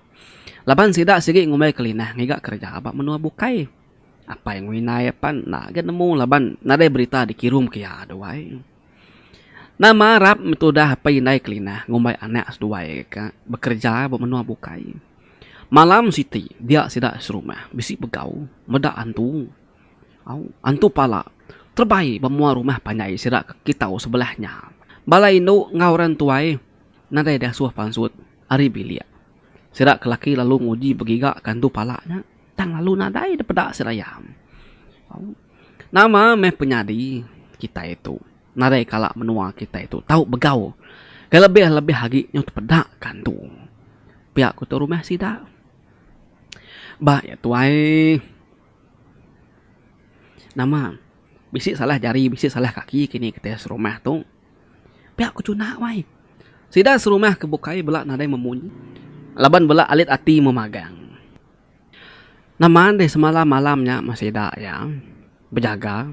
Laban sida sigi ngumbai Kelinah ngiga kereja ba menua bukai. Apai enggau indai pan enda agi nemu laban nadai berita dikirumka iya dua ai. Nama arap meh tudah apai indai Kelinah ngumbai anak seduai ka bekereja ba menua bukai. Malam siti dia sida serumah bisi begau meda antu. Au, antu pala terebai ba mua rumah panjai sida ka kitau sebelah nya. Bala indu enggau orang tuai nadai diasuh pansut ari bilik. Sida ke laki lalu nguji begiga ka antu pala nya tang lalu nadai dipeda seraya. Au. Nama meh penyadi kitai tu nadai kala menua kitai tu tau begau ke lebih-lebih agi nyau tepeda ka antu pia ku tu rumah sida. Ba iya tu ai nama bisi salah jari bisi salah kaki kini kitai serumah tu pia ku cuna wai. Sida serumah ke bukai bela nadai memunyi laban bela alit ati memagang. Nama deh semalam malam nya meh sida iya bejaga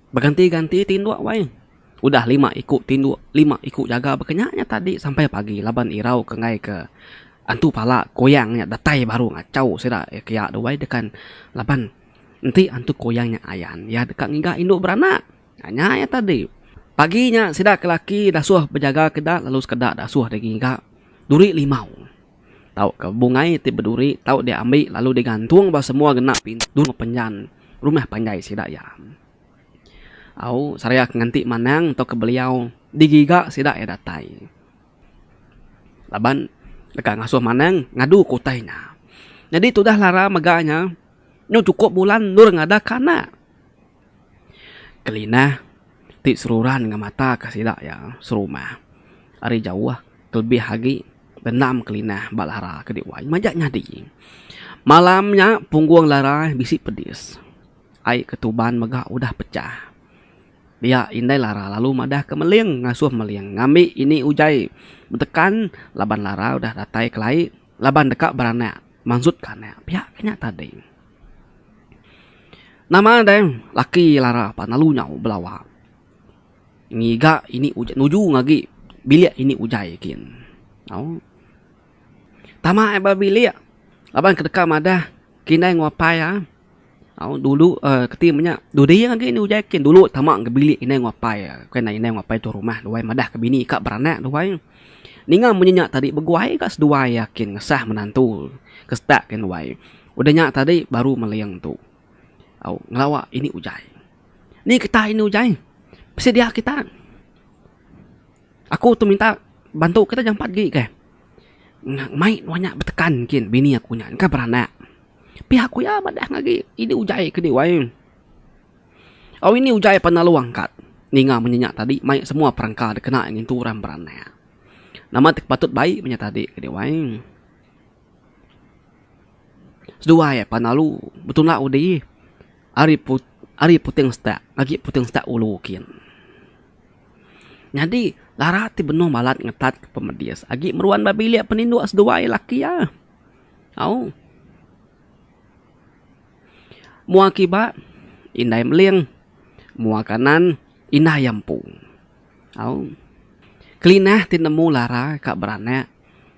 beganti ganti tinduk wai udah lima iku tinduk lima iku jaga ba ke nya nya tadi sampai pagi laban irau ke enggai ke antu pala kuyang nya datai baru ngachau sida kiya dua wai tekan laban enti antu kuyang nya ayan iya deka ngiga indu beranak nya iya tadi pagi nya sida ke laki dasuh bejaga ke ida lalu sekeda dasuh dagi ngiga duri limau. tauka bungai ti beduri tau diambi lalu digantung ba semua gena pintu penjan rumah panjai sida iya. Au Saria ke nganti manang tauka beliau digiga sida iya datai laban deka ngasuh manang ngadu ke utai nya. Nyadi tudah lara mega nya nyau chukup bulan endur ngadak ka anak. Kelinah ti seruran enggau mata ke sida iya serumah ari jauh kelebih agi dendam kelinah ba lara ke diwai majak nyadi. Malam nya punggung lara bisi pedis ai ketuban mega udah pecah. Dia indai lara lalu madah ke meling ngasuh meling ngambi ini ujai betekan laban lara udah datai kelai laban deka beranak mansut ke anak. Pia ke nya tadi. Nama deh laki lara pan lalu nyau belawa ngiga ini ujan nuju ngagi bilik ini ujai kin au tama ai ba bilik laban kedeka madah kine nguapai a au dulu um keti menya dudi agi ini ujai kin dulu tama ga bilik ine nguapai a bukai ine ine nguapai tuan rumah duai madah ke bini ka beranak duai ninga munyi nya tadi beguai ka seduai iya kin ngesah menantu ke sedak kin duai. Udah nya tadi baru Meling tu au ngelawa ini ujai. Ni getah ini ujai. Bisi dia kita. Aku tu minta bantu kita jampat agi ke. Mai nuan nya betekan kin bini aku nya engka beranak. Pia ku iya madah agi ini ujai ke diwai. Au ini ujai pan lalu angkat ninga munyi nya tadi mai semua perengka dikena ngintu orang beranak. Nama ti patut bai menya tadi ke diwai. Seduai iya pan lalu betulak undi ari put ari puting setak ngagai puting setak ulu kin. Nyadi lara ti benung balat ngetat ke pemedis agi meruan ba bilik peninduk seduai laki iya. Au. Mua kiba indai meling mua kanan indai iya empu. Au. Kelinah ti nemu lara ka beranak.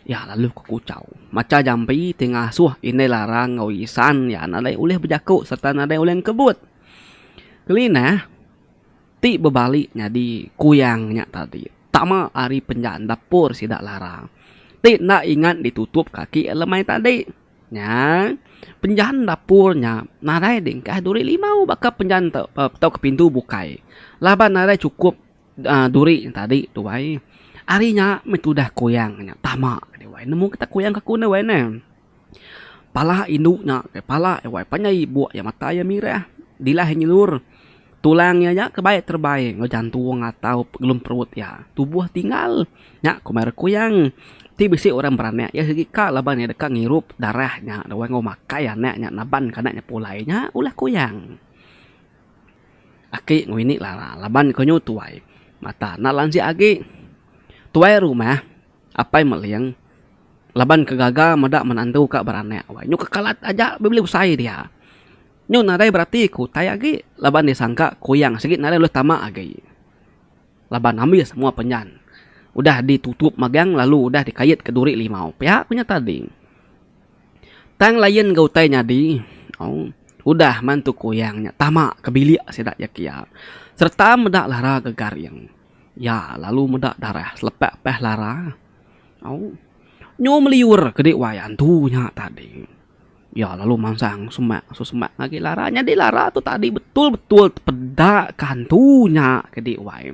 Iya lalu ke Kuchau. Macha jampi ti ngasuh Indai Larang enggau Isan iya nadai ulih bejaku sereta nadai ulih ngkebut. Kelinah ti bebali nyadi kuyang nya tadi tama ari penjan dapur sida Larang ti enda ingat ditutup kaki iya lemai tadi. Nya, penjan dapur nya nadai dingkah duri limau baka penjan tauka pintu bukai laban nadai chukup. Duri nya tadi tu wai. Ari nya meh tudah kuyang nya tama agi wai. Nemu kita kuyang ke aku nih wai neh. Pala indu nya ke pala iya wai panjai ibuk iya mata iya mirah. Dilah iya nyelur. Tulang iya nya ke baik terebai enggau jantung atau pegelum perut iya. Tubuh tinggal. Nya ku marer kuyang. Ti bisi orang beranak iya sigi ka laban iya deka ngirup darah nya enggau makai anak nya nabanka anak nya pulai. Nya ulah kuyang. Aki ngewini lara laban ko nyu tuai mata enda lanjik agi. Tuai rumah apai meling laban ke gaga meda menantu ka beranak wai nyu kekelat aja bebeli usai dia. Nyu nadai berati ke utai agi laban iya sangka kuyang sigi nadai ulih tama agi laban ambis semua penyan udah ditutup magang lalu udah dikait ke duri limau pia ku nyata ding. Tang layan enggau utai nyadi, udah mantu kuyang nya tama ke bilik sida iya kiya sereta meda lara ke garing. Iya lalu meda darah selepa pas lara. Au nyu meliur ke di wayah antu nya tadi. Iya lalu mansang semak semak agi lara nyadi lara tu tadi betul betul tepeda ke antu nya ke di wai.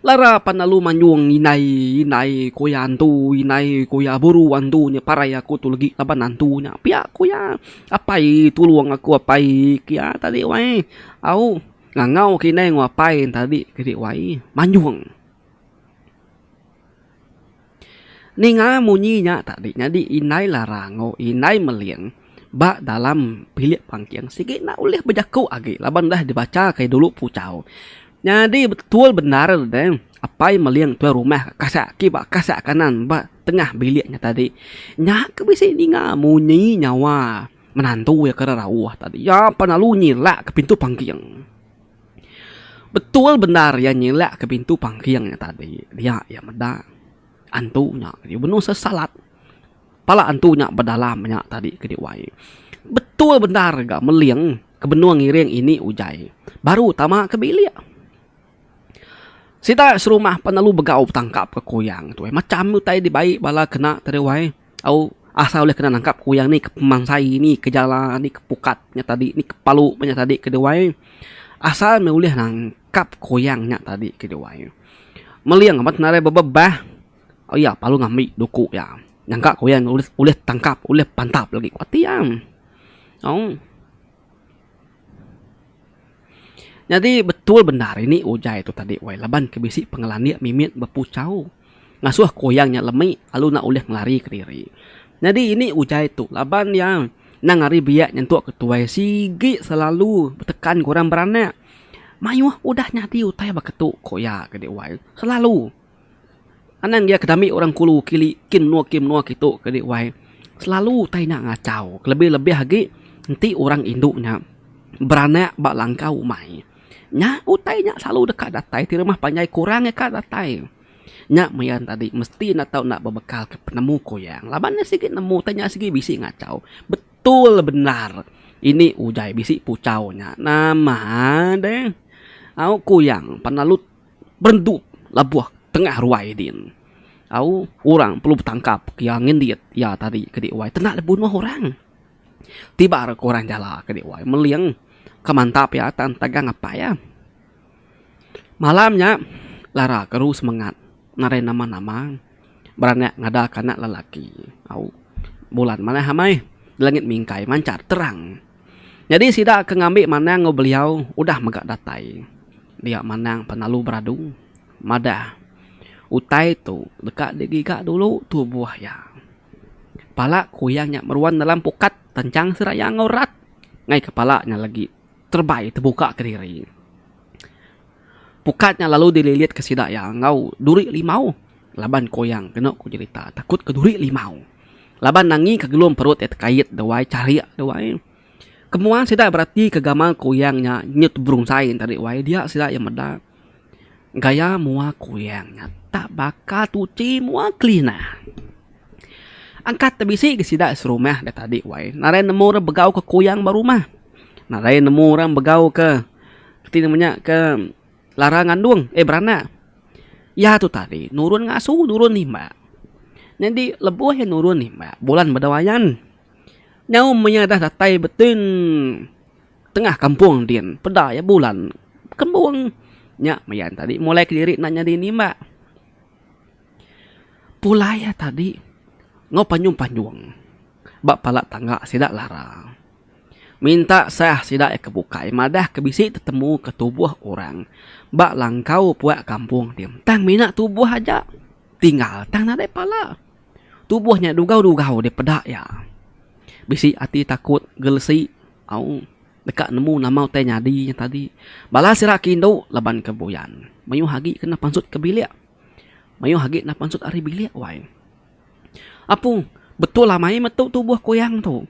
Lara pan lalu manjung indai indai ku iya antu indai ku iya buru antu nya parai aku tu legi laban antu nya pia ku iya apai tulung aku apai kia tadi wai au ngangau ke indai ngu apai tadi ke wae manjung. Ninga munyi nya tadi nyadi indai larang enggau indai meling ba dalam bilik pangking sigi enda ulih bejaku agi laban dah dibacha kai dulu puchau. Nyadi betul bendar deh apai meling tuai rumah kasah agi ba kasah kanan ba tengah bilik nya tadi. Nya ke bisi ninga munyi nyawa menantu iya ke rauh tadi. Iya pan lalu nyilak ke pintu pangking. Betul bendar iya nyilak ke bintu pangking nya tadi dia iya meda antu nya tadi benung sesalat pala antu nya bedalam nya tadi ke diwai betul bendar ga meling ke benung ngiring ini ujan baru tama ke bilik sida serumah pelalu begau betangkap ke kuyang tu ai macam utai dibai bala kena tadi wai. Au asa ulih kena nangkap kuyang ni ke pemansai ni ke jala ni ke pukat nya tadi ni ke palu meh nya tadi ke duai asal meh ulih nangkap kuyang nya tadi ke duai meling amat nadai bebebah au iya palu ngambi duku iya nyangka kuyang ulih tangkap ulih pantap lagi ku ati iya au. Nyadi betul bendar ini ujar itu tadi wai laban ke bisi pengelandik mimit bepuchau ngasuh kuyang nya lemi lalu enda ulih ngelari ke diri. Nyadi ini ujar tu laban iya endang ari biak nyentuk ke tuai sigi selalu betekan ke orang beranak mayuh udah nyadi utai baka tu ku iya ke dek wai selalu. Anang iya ke dami orang kulu kili ke menua ke menua kitu ke di wai selalu utai nya ngachau kelebih lebih agi enti orang indu nya beranak ba langkau umai nya utai nya selalu deka datai ti rumah panjai kurang iya ka datai nya maya enta tadi mesti enda tau enda bebekal ke penemu kuyang laban nya sigi nemu utai nya sigi bisi ngachau betul bendar ini udah bisi puchau nya nama deh au kuyang pan lalu. berendup lebuh tengah ruai din. Au orang perlu betangkap ke iya ngindik iya tadi ke dih wai tenda le bunuh orang. Tiba ra ke orang jala ke dih wai meling ke mantap iya tan tagang apai iya. Malam nya Lara keru semengat nadai nama-nama beranak ngadaka anak lelaki. Au bulan manah amai langit mingkai manchar terang. Nyadi sida ke ngambi manang enggau beliau udah mega datai dia manang penalu beradu madah utai tu deka digiga dulu tubuh iya. Pala kuyang nya meruan dalam pukat tenchang seraya enggau rat ngai kepala nya legi terebai tebuka kediri. Pukat nya lalu dililit ke sida iya enggau duri limau laban ko iya keno ko jerita takut ke duri limau laban nangi ke gelum perut iya tekait dewai charik dewai. Kemuan sida berati ke gamal kuyang nya nyut berunsai enta ri wai dia sida iya meda gaya mua kuyang nya tak baka tuchi mua kelina. Angkat tebisi ke sida serumah da tadi wai narai nemu orang begau ke kuyang ba rumah narai nemu orang begau ke. Ti nemanya ke lara ngandung eh beranak iya tu tadi nurun ngasu nurun imbak nyadi lebuh iya nurun imbak bulan meda wayan nyau men iya dah datai betin tengah kampung din peda iya bulan kembung nya meyan tadi mulai kediri enda nyadi nimbak. Pulai iya tadi enggau panjung panjung ba pala tangga sida lara. Minta sah sida iya ke bukai madah ke bisi tetemu ke tubuh orang ba langkau puak kampung ti tang mina tubuh aja tinggal tang nadai pala. Tubuh nya dugau-dugau deh peda iya. Bisi ati takut gelesi au deka nemu nama utai nyadi nya tadi. Bala sida ke indu laban ke buyan mayuh agi kena pansut ke bilik mayuh agi kena pansut ari bilik wai. Apung, betul amai metu tubuh kuyang tu.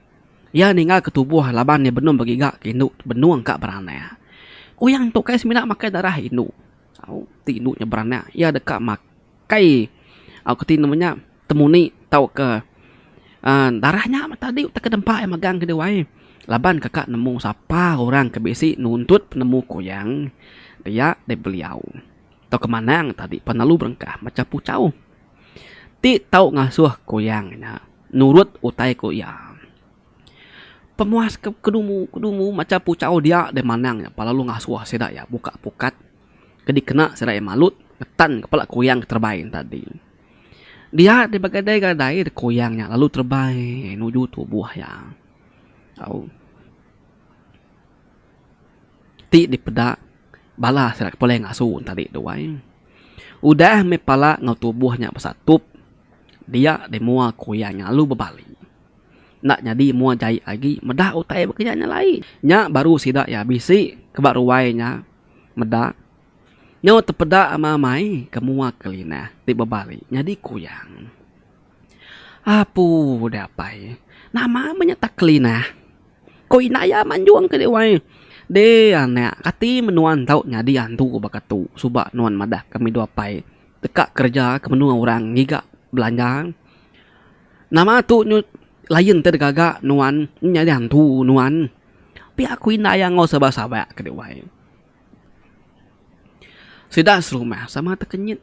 Iya ninggalka tubuh laban iya benung begiga ke indu benung ka beranak. Kuyang tu kai semina makai darah indu. Au ti indu nya beranak iya deka makai kai au ke ti nama nya temuni tauka uhh darah nya meh tadi utai ke nempa iya megang ke diwai laban kaka nemu sapa orang ke bisi nuntut penemu kuyang dia dibeliau. Tauka manang tadi penalu berengkah macha puchau ti tau ngasuh kuyang nya nurut utai ku iya. Pemuas ke kedumu kedumu macha puchau dia deh manang nya pelalu ngasuh sida iya buka pukat ke dikena sida iya malut ngetan ke pala kuyang ke terebai nya tadi. Dia deh begadai gadai deh kuyang nya lalu terebai nuju tubuh iya. Au. Ti dipeda bala sida ke pelai ngasu ne tadi tu ai udah meh pala enggau tubuh nya besatup dia deh mua ku iya lalu bebali enda nyadi mua jai agi meda utai ba kinya nya lai. Nya baru sida iya bisi ke ba ruai nya meda nyau tepeda ama amai ke mua ke linah ti bebali nyadi kuyang. Apu deh apai nama meh nya tak ke linah. Ko Inaya manjung ke dek wai. Deh anak kati men nuan tau nyadi antu baka tu suba nuan madah ke medu apai deka kerja ke menua orang ngiga belanja. Nama tu nyu lain te gaga nuan nyadi antu nuan. Pia ko Inaya enggau sabar sabar ke dek wai. Sida serumah sama te kenyit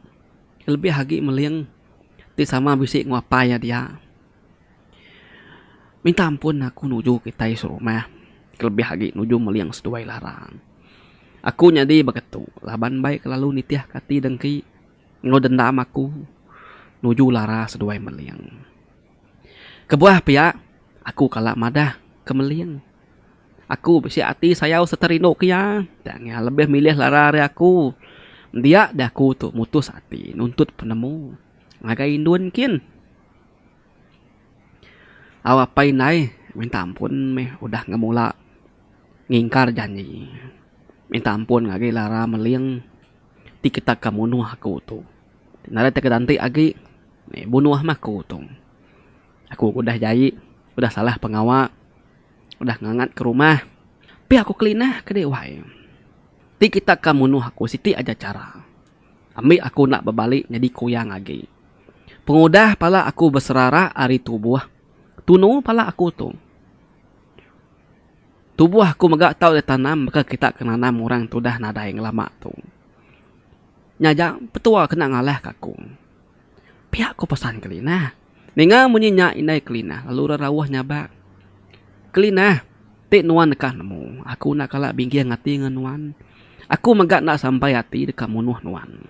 lebih agi meling ti sama bisi enggau apai iya dia. Minta ampun aku nuju kitai serumah kelebih agi nuju meling seduai larang. Aku nyadi baka tu laban bai kelalu nitihka ati dengki enggau dendam aku nuju lara seduai meling. Kebuah pia aku kala madah ke meling. Aku bisi ati sayau sereta rindu ke iya. Tang iya lebih milih lara ari aku. Dia deh aku tu mutus ati nuntut penemu ngagai indun kin. Au apai indai minta ampun meh udah ngemula ngingkar janji. Minta ampun agi lara meling ti kitak ka munuh aku tu. Nadai tau kitak enti agi bunuh meh aku tu. Aku udah jai udah salah pengawa udah ngangat ke rumah tapi aku kelinah ke dei wai. Ti kitak ka munuh aku siti aja chara. Ambi aku enda bebali nyadi kuyang agi. Pengudah pala aku beserarak ari tubuh, tunu pala aku tu. Tubuh aku mega tau ditanam baka kita ke nanam orang ke udah nadai ngelama tu. Nya aja, petua kena ngalahka aku. Pia ku pesan Kelinah. Ninga munyi nya indai Kelinah lalu orang rauh nyabak, Kelinah, ti nuan deka nemu. Aku enda kala bingging ati ngan nuan. Aku mega enda sampai ati deka munuh nuan.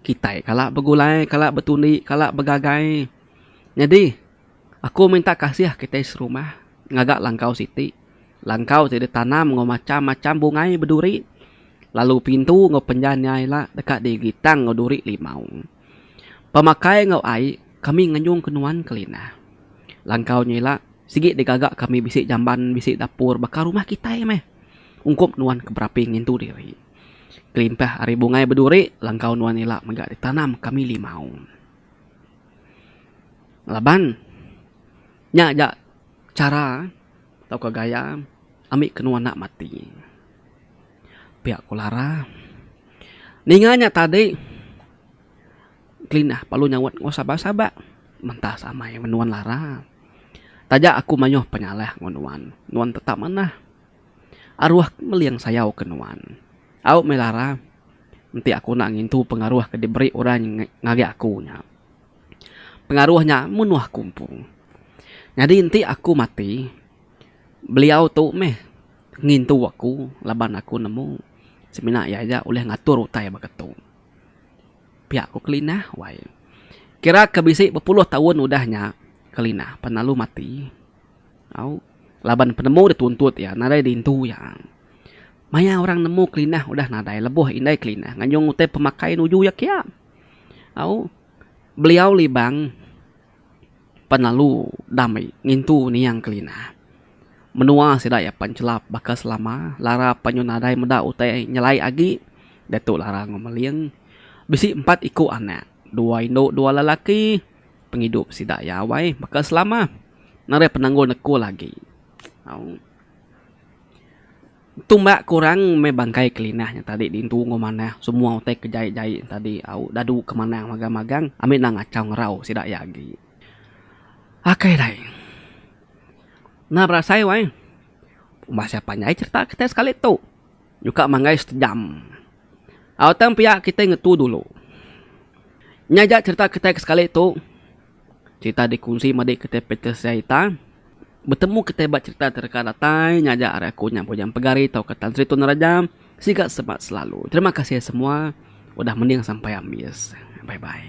Kitai kala begulai, kala betundi, kala begagai. Nyadi aku minta kasih kitai serumah ngaga langkau siti. Langkau ti ditanam enggau macam-macam bungai beduri lalu pintu enggau penjanya ila deka digitang enggau duri limau. Pemakai enggau ai kami nganyungka nuan ke Linah. Langkau nya ila sigi digaga kami bisi jamban bisi dapur baka rumah kitai meh. Ungkup nuan ke berapi ngintu diri. Kelimpah ari bungai beduri langkau nuan ila mega ditanam kami limau. Laban nya aja chara tauka gaya. Ambi kenu anak mati. Pia ku Lara. Ninga nya tadi Kelinah lalu nyaut enggau sabar sabar. Mentas amai meh nuan Lara. Taja aku mayuh penyalah enggau nuan. Nuan tetap manah. Aruh aku meling sayau ke nuan. Au meh Lara. Enti aku enda ngintu pengaruh ke diberi orang ngagai aku nya. Pengaruh nya menuh aku empu. Nyadi enti aku mati, Beliau tu meh ngintu aku laban aku nemu semina iya aja ulih ngatur utai baka tu. Pia ku Kelinah wai. Kira ke bisi bepuluh taun udah nya Kelinah pan lalu mati au laban penemu da tuntut iya nadai diintu iya. Maya orang nemu Kelinah udah nadai lebuh indai Kelinah ngajung utai pemakai nuju iya kiya. Au beliau Libang. pan lalu dami ngintu niang kelina. Menua sida iya pan chelap baka selama lara pan nyau nadai meda utai nyelai agi diatu lara Ngung Meling bisi empat iku anak dua indu dua lelaki pengidup sida iya awai baka selama nadai penanggul nekul agi. Tumbak kurang meh bangkai Kelinah nya tadi diintu enggau manah semua utai ke jai-jai nya tadi au dadu ke manah magang-magang ami enda ngachau ngerau sida iya agi. Aka alai. Enda berasai wai. Masih panjai cherita kitai sekali tu. Nyuka manggai setejam. Au tang pia kitai ngetu dulu. Nya aja cherita kitai ke sekali tu. Cerita dikunsi madi kitai Peter Siaita betemu kitai ba cerita ti reka datai ngajar ari aku nya Bujang Pegari tauka Tan Sri Tun Raja. Siga sebat selalu. Terima kasih semua udah mending sampai ambis. Bye bye.